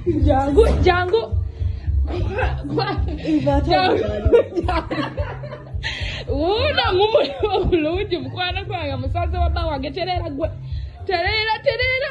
Django, Django. wuuno ngumuli obulungi mukwano gwange musaze wabba wange tereera gwe tereera tereera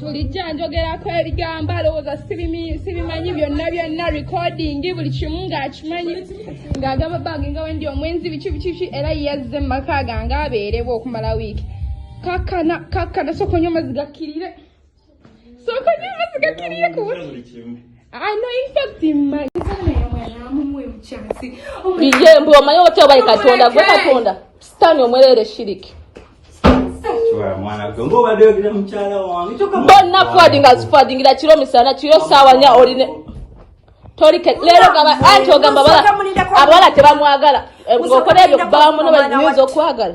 tulijja njogerako ebigambo alowooza sibimanyi byonna byonna recording buli kimu ng'akimanyi ng'agamba bange nga wendi omwenzi biki bikiki era yazze mu maka gange abeerewo okumala wiiki kakana kakana sokonya omazzi gakkirire sokonya omazzi gakkirire kubuti Iye mbu omanyi otya obayi katonda gwe katonda sitaani omwerere shiriki bonna fwadinga zifwadingira kiro misana kiro saawa nya oline tolike leero gaba anti ogamba bala abawala tebamwagala eh, okola ebyo kubawamuno bayinza okwagala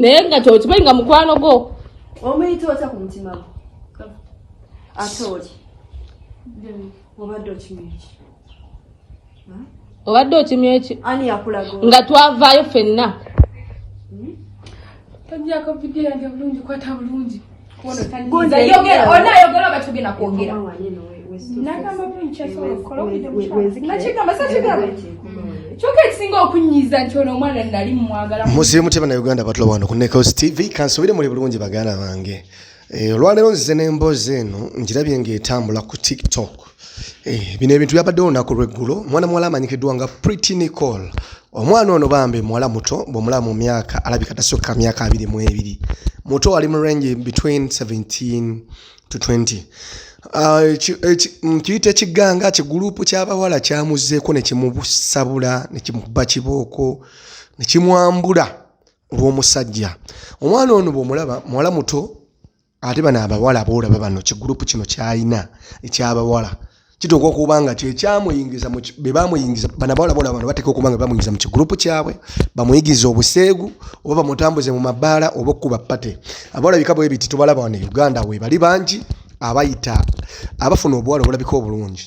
naye nga kyokimanyi nga mukwano gwo omuyita otya ku mutima gwo ate oli obadde okimanyi ki obadde okimya eki nga twavaayo fenna hmm? musirimu tebana uganda batula wano ku nekosi tv kansubire muli bulungi baganda bange eh, olwaleero nzize n'emboozi eno njirabye ng'etambula ku tiktok Eh, bino ebintu byabaddewo olunaku lweggulo mwana muwala amanyikiddwa nga pretty nicole omwana ono bambi muwala muto bwomulaba mu myaka alabika tasukka myaka abiri mu ebiri muto ali mu range between 17 to 20 ah, mm, kiyita ekiganga kigulupu kyabawala kyamuzeeko nekimusabula nekimukuba kibooko nekimwambula olwomusajja omwana ono bwomulaba muwala muto ate bano abawala boolaba bano kigurupu kino kyalina ekyabawala kituuka okuba nga kyekyamuyingiza bebamuyingiza bana bawala boolaba bano bateeka okuba nga bamuyingiza mu kigurupu kyabwe bamuyigiriza obuseegu oba bamutambuze mu mabaala oba okukuba pate abawala bika bwe biti tubalaba wano e uganda webali bangi abayita abafuna obuwala obulabika obulungi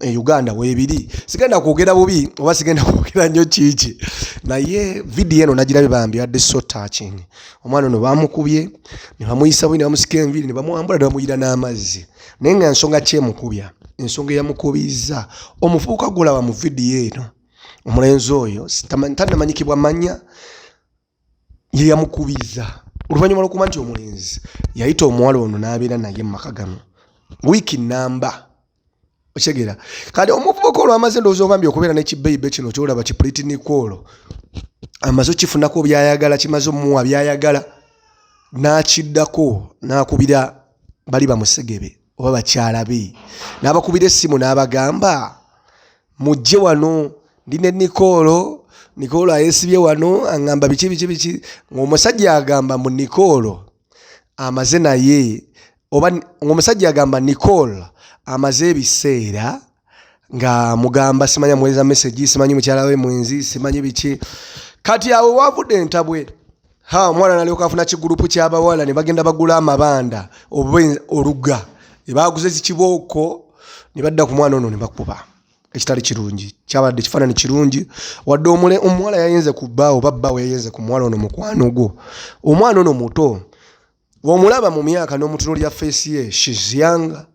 e uganda webiri sigenda kwogera bubi oba sigenda kwogera nnyo kiiki naye vidiyo eno nagirabe bambi yadde so touching omwana ono bamukubye nebamuyisa bubi nebamusika enviri nebamwambula nebamuyira n'amazzi naye nga ensonga kyemukubya ensonga eyamukubizza omufuuka gulaba mu vidiyo eno omulenzi oyo tanamanyikibwa manya ye yamukubiriza oluvannyuma lwokuba nti omulenzi yayita omuwala ono n'abeera naye mu maka gano wiiki namba okitegeera kati omuvubuka olwo amaze ndowooza obambi okubeera nekibeibe kino kyolaba kipuliti nikolo amaze okifunako byayagala kimaze omuwa byayagala n'akiddako n'akubira bali bamusegebe oba bakyala be n'abakubira essimu n'abagamba mujje wano ndi ne nikoolo nikoolo ayesibye wano aŋamba biki biki biki ng'omusajja agamba mu nikoolo amaze naye oba ng'omusajja agamba nikoolo amaze ebiseera nga mugamba simanya muweza message simanyi mukyala we mwenzi simanyi biki kati awo wavude entabwe ha omwana nalyoka afuna kigurupu kyabawala ne bagenda bagula amabanda oba oluga ebaguze zikibooko ne badda ku mwana ono ne bakuba ekitali kirungi kyabadde ekifaanani kirungi wadde omule omuwala yayinze ku bba oba bba weyayenze ku muwala ono mukwano gwo omwana ono muto Bw'omulaba mu myaka n'omutunuulira feesi ye shizyanga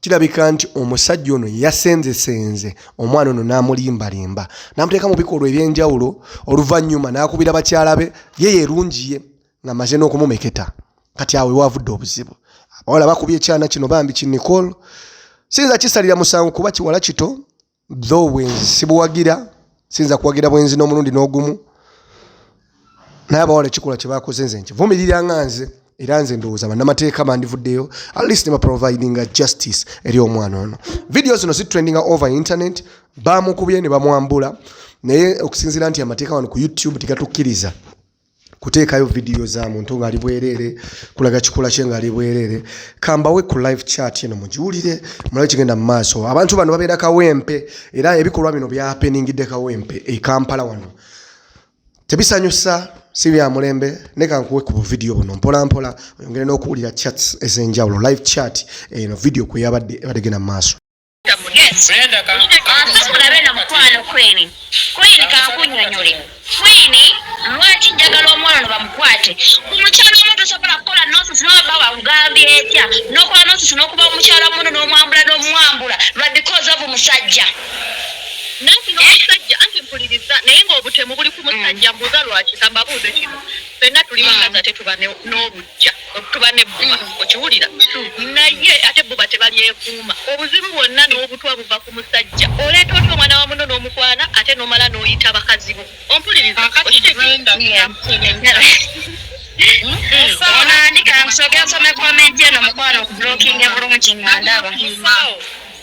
kirabika nti omusajja ono yasenzesenze omwana ono n'amulimbalimba n'amuteeka mu bikolwa eby'enjawulo oluvannyuma n'akubira bakyala be ye yerungi ye nga maze n'okumumeketa kati awe waavudde obuzibu abawala bakubye ekyana kino bambi ki nicole siyinza kisalira musango kuba kiwala kito tho obwenzi sibuwagira siyinza kuwagira bwenzi n'omulundi n'ogumu naye abawala ekikola kyebakoze nze nki vumirira nga nze era nze ndowooza bannamateeka bandivuddeyo at least ne baprovidinga justice eri omwana ono vidiyo zino zitrendinga over internet bamukubye ne bamwambula naye okusinziira nti amateeka wano ku youtube tegatukkiriza kuteekayo vidiyo za muntu ng'ali bwereere kulaga kikula kye ng'ali bwereere kambawe ku live chat eno mugiwulire mulabe kigenda mu maaso abantu bano babeera kawempe era ebikolwa bino byapeningidde kawempe e kampala wano tebisanyusa si bya mulembe neka nkuwe ku buvidiyo buno mpola mpola oyongere n'okuwulira chats ez'enjawulo live chat eno vidiyo kwe yabadde ebadde genda mu maaso Brenda ka ate mulabe na mukwano kwini kwini kankunyonyole kwini lwaki njagala omwana no bamukwate ku mukyala omu tosobola kukola nonsense noba ba wakugambye etya nokola nonsense nokuba omukyala muno nomwambula nomwambula lwa because of musajja nanti nomusajja anti mpuliriza naye ngaobutemu buli ku musajja mm. mbuuza lwaki kambabuuze kino fenna tuli bakazi ate tuba n'obujja okutuba ne bba okiwulira naye ate bbo batebalyekuuma obuzibu bwonna n'obutwa buva ku musajja oleeta otya omwana wa muno n'omukwana ate nomala n'oyita bakazi bo ompuliriza onandika nsoke nsome komenti eno mukwano okubulokinga bulungi nga ndaba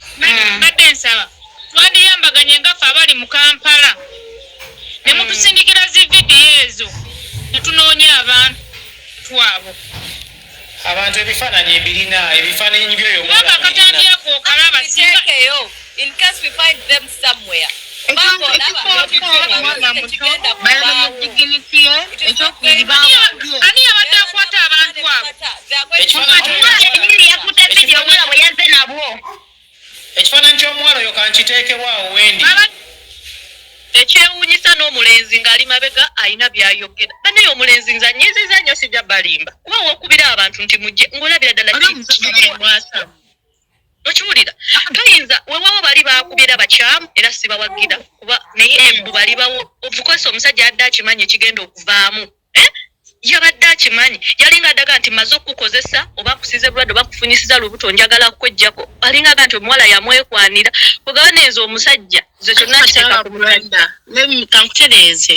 Hmm. mbadde nsaba twandiyambaganye nga fe abali mu kampala ne hmm. mutusindikira zi vidiyo ezo ne tunoonya abantu abo abantu ebifaananyi mbirina ebifaananyi byoyokakatandiyako okalaba somewhere ani yabadde akwata abantu abo ekifaananyi ky'omuwala oyo kankiteekewo awo wendi ekyewuunyisa n'omulenzi ng'ali mabega alina byayogera banaye omulenzi nze anyiiziza nnyo sijja balimba kuba wokubira abantu nti mujje ng'olabira ddala kimwasa okiwulira toyinza wewawo bali bakubyera bakyamu era sibawagira kuba naye embu bali bawo ofukosa omusajja yadde akimanyi ekigenda okuvaamu eh? yabadde akimanyi yalinga adaga nti maze okukukozesa oba kusiza ebulwadde oba kufunyisiza lubuto njagala kwejjako alinga aga nti omuwala yamwekwanira ogaba nenze omusajja ze kyonna kiteeka ku mulwadde kankutereeze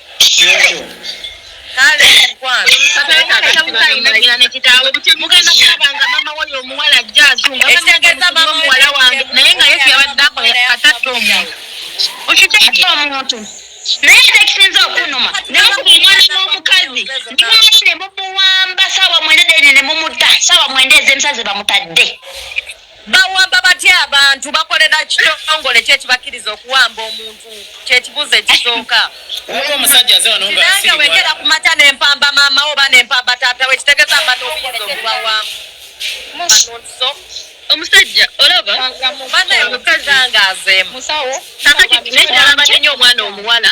kale mukwano katalina nekitaawe mugenda kulaba nga mama woyo omuwala ajja azunga ekitegeza mama muwala wange naye nga yesu yabadde akola katatta omuntu okiteeka omuntu naye tekisinza okunuma nemukuba omwana n'omukazi ndikumana ne mumuwamba saawa mwenda dene ne mumutta saawa mwenda ez'emisana ze bamutadde Bawamba batya abantu bakolera kitongole ki ekibakiriza okuwamba omuntu kyekibuuzo ekisooka waliwo omusajja aze wano nga nange wegera ku mata ne mpamba maama oba ne mpamba taata we kitegeza mba n'obuyinza okubawamba omusajja olaba banaye omukazi angaazemu kakati naye kyalabadde nyo omwana omuwala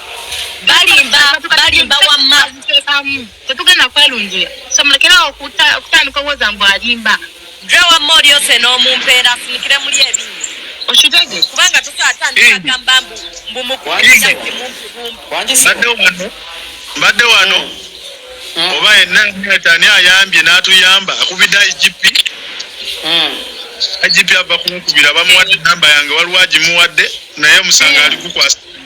balimba balimba wamma tetugenda kwelunjula somulekerawo okutandika owoza mbu alimba dre wamma olyose n'omumpeera sinikire muli ebinyo okitege kubanga tukyatandika agamba mbu mbu mukuimumpibumpi mbadde wano hmm. oba yenna ani ayambye n'atuyamba akubidde igp hmm. igp ava kunkubira bamuwadde enamba yange waliwo agimuwadde naye omusanga alikukwasa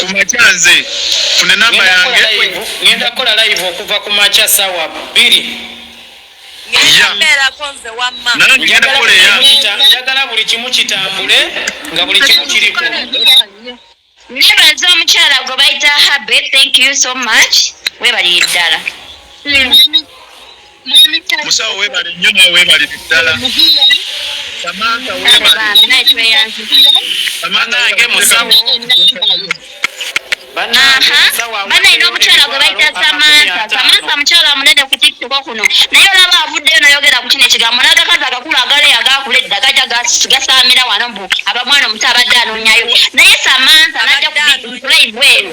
kumakya nze fune number yange ngenda kola live okuva kumakya sawa biri njagala buli kimu kitambule nga buli kimu kiriko nebaza omukyala gwe bayita habe thank you so much webaliye ddala hmm. musawo webale nnyo nawe webale biddala samanta webalenange musawo banaina omukyala gwe bayita samanta samanta mukyala munene ku tikitoko kuno naye olaba avuddeyo nayogera ku kino ekigambo nagakazi agakulu agale agakula edda gaja gasaamira wano mbu aba mwana omuto abadde anoonyayo naye samanta najja kulive eno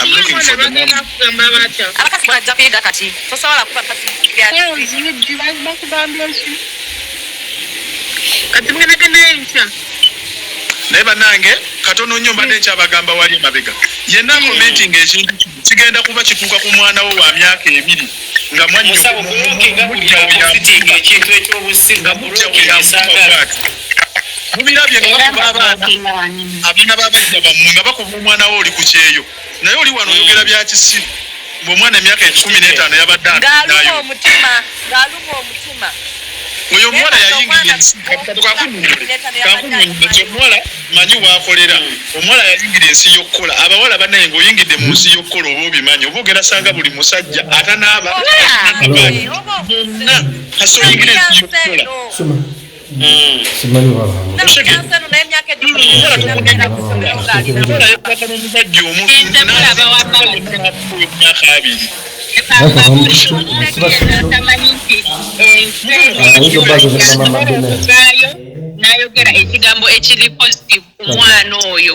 I'm looking for the mom. Abakazi bajja kuyida kati. Tosobola kuba kazi. Kati mugenda genda enkya. Naye banange katono nnyo mbadde nkyabagamba wali emabega yenna commenting ekintu kigenda kuba kituuka ku mwana wo wa myaka ebiri nga mwannyo ekintu ekyobusiga mubirabye nga bakuba abaana abaana babajja bamwe nga bakuba omwana wo oli ku kyeyo naye oli wano oyogera bya kisiru ngaomwana emyaka ekikumi n'etaano yabadde ayo oyo omuwala yayingira ensi omuwala manyi wakolera omuwala yayingira ensi yokukola abawala banaye nga oyingidde mu nsi yokukola oba obimanyi oba ogera sanga buli musajja atanaaba bonna kasoyingira ensi yokukola simanyi nayogera ekigambo ekiri positive ku mwana oyo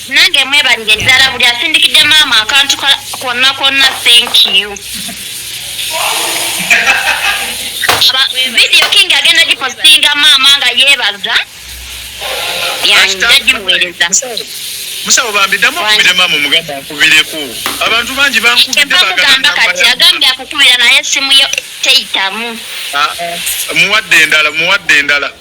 nange mwebalire ddala buli asindikidde maama akantu konna konna thank you vidiyo king agenda gipositinga maama nga yeebaza yagimuweereza musawo bambi ddamu okubire maama omugamba nkubireko abantu bangi bankubidemugamba kati agambye akukubira naye simu yo teyitamu ah, ah, muwadde endala muwadde endala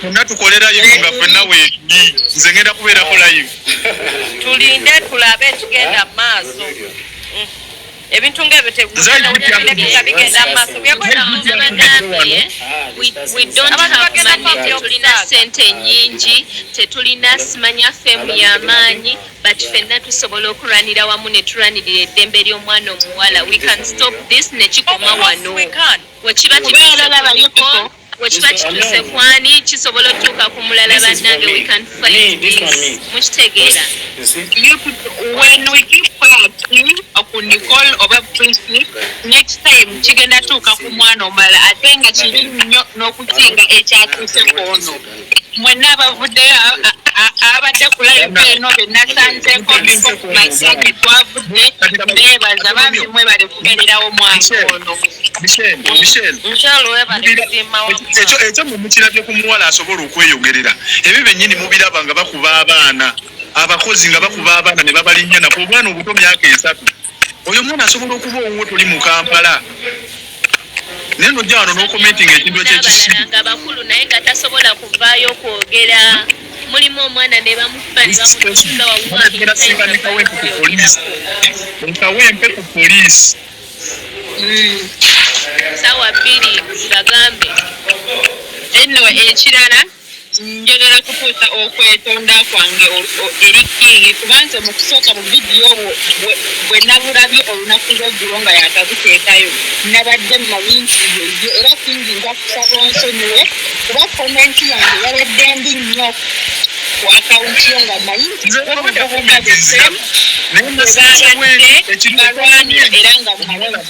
Fenna tukole live nga fenna wendi nze ngenda kubeerako live. Tulinde tulabe ekigenda mu maaso. Mm. ebintu nga ebyo tebigenda bigenda maaso tulina sente nyingi tetulina simanya femu yamaanyi but fenna tusobola okulwanira wamu ne tulwanirira eddembe ly'omwana omuwala we can stop this nekikoma wano wekiba tibalabayiko Wekiba kituse kwani kisobola otuuka ku mulala banange we can fight this mukitegeera when we keep quiet ku Nicole oba Tracy next time kigenda tuuka ku mwana omulala ate nga kibi nnyo n'okusinga ekyatuuse kwono mwenna abavuddeyo abadde ku live eno benasanzeeko bimasingi twavudde beebaza bambi mwebale kubeererawo mwaka ono ekyo mwe mukirabye ku muwala asobola okweyogerera ebyo bennyini mubiraba nga bakuba abaana abakozi nga bakuba abaana ne babalinnya nako obwana obuto myaka esatu oyo omwana asobola okuba owuwo toli mu kampala naye nojja wano nokomentinga ekintu ekyekisinga bakulu naye nga tasobola kuvaayo okwogera mulimu omwana nebamufubanebamufubaawempe ku poliisi hmm. sawa bbiri bagambe enno ekirala njagala kutuusa okwetonda kwange eri kingi kuba nze mu kusooka mu vidiyo obwo bwe nabulabye olunaku lweggulo nga yakabuteekayo nabadde mmanyi nti yeye era kingi nja kusaba onsonyiwe kuba komenti yange yabadde mbi nnyo ku akawunti yo nga mmanyi nti obububuka bwesemu bwebabadde balwanira era nga mumalamu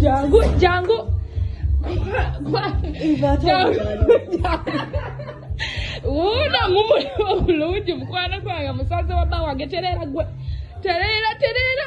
Django, Django. wuuno mumuli obulungi mukwano gwange musaze wabba wange tereera gwe tereera tereera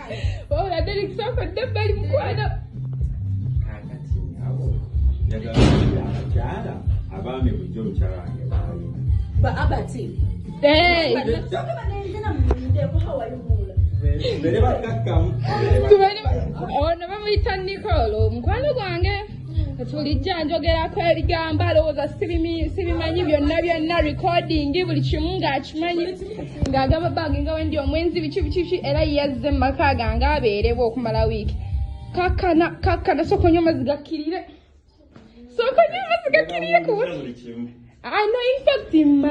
wabula derek sooka dda bali mukwano kakati abo njagala abakyala abaami bulijjo omukyala wange baali ba abati ono bamuyita nicol omukwano gwange tulijja njogerako ebigambo alowooza sibimanyi byonna byonna recording buli kimu ng'akimanyi ng'agamba bange nga wendi omwenzi biki biki biki era yazze mu maka gange abeerewo okumala wiiki kakkana kakkana sooka onywa amazzi gakkirire sooka onywa amazzi gakkirire kuwa ano infact